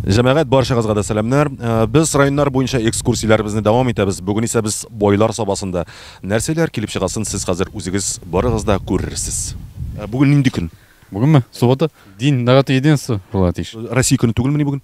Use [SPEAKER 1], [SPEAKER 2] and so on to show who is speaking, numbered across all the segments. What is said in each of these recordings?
[SPEAKER 1] Җәмәгать баршагызга да сәламнәр. Э, без районнар буенча экскурсияләребезне дәвам итәбез. Бүген исә без байлар сабасында. Нәрсәләр килеп чыгасын сез хәзер үзегез барыгыз да күрерсез. Э, бүген нинди көн? Бүгенме? Суббота.
[SPEAKER 2] День народа единства була тиеш. Россия көне түгелмени
[SPEAKER 1] бүген?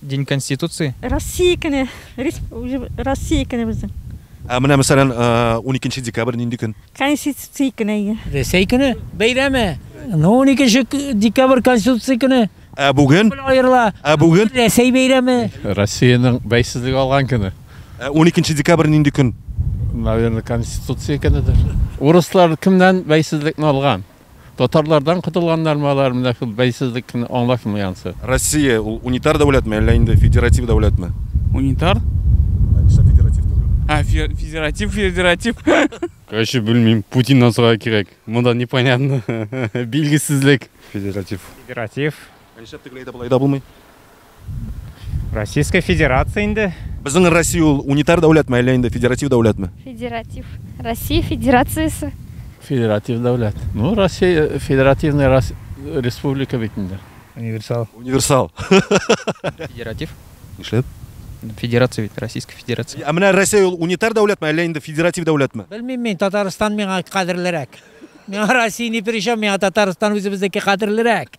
[SPEAKER 1] День
[SPEAKER 3] конституции? Россия көне.
[SPEAKER 4] Россия көне безнең. Ә менә мәсәлән,
[SPEAKER 1] уникенче декабрь нинди көн? Конституция көне
[SPEAKER 4] әйе. Рәсәй көне
[SPEAKER 5] бәйрәме. Ну, уникенче декабрь конституция көне. Ә бүген? Күпмел аерыла.
[SPEAKER 1] Ә
[SPEAKER 5] бүген? Рәсәй
[SPEAKER 1] бәйрәме.
[SPEAKER 5] Россиянең
[SPEAKER 2] бәйсезлек алган көне. Ә уникенче декабрь
[SPEAKER 1] нинди көн? Наверное,
[SPEAKER 2] конституция көнедер. Урыслар кемнән бәйсезлекне алган? Татарлардан котылганнармы алар, менә шул бәйсезлекне аңлашмый ансы. Россия ул унитар
[SPEAKER 1] дәүләтме, әллә инде федератив дәүләтме? Унитар? Ә
[SPEAKER 3] нишләп федератив түгел? Ә, федератив, федератив. Короче,
[SPEAKER 2] белмим, Путиннан сорарга кирәк. Монда непонятно, билгесезлек. Федератив. Федератив.
[SPEAKER 6] Ә нишләп тегеләй дә, болай
[SPEAKER 1] да булмый? Российская
[SPEAKER 6] Федерация инде. Безнең Россия ул
[SPEAKER 1] унитар дәүләтме, әллә инде федератив дәүләтме? Федератив.
[SPEAKER 4] Россия Федерациясе. Федератив
[SPEAKER 2] дәүләт. Ну, Россия э, федеративная рас... республика бит инде. Универсал.
[SPEAKER 6] Универсал.
[SPEAKER 3] Федератив. Нишләп?
[SPEAKER 1] Федерация
[SPEAKER 3] бит, Российская Федерация. Ә менә Россия ул унитар
[SPEAKER 1] дәүләтме, әллә инде федератив дәүләтме? Белмим мин, Татарстан
[SPEAKER 5] миңа кадерлерәк. Миңа Россия ни причем, миңа Татарстан үзебезнеке кадерлерәк.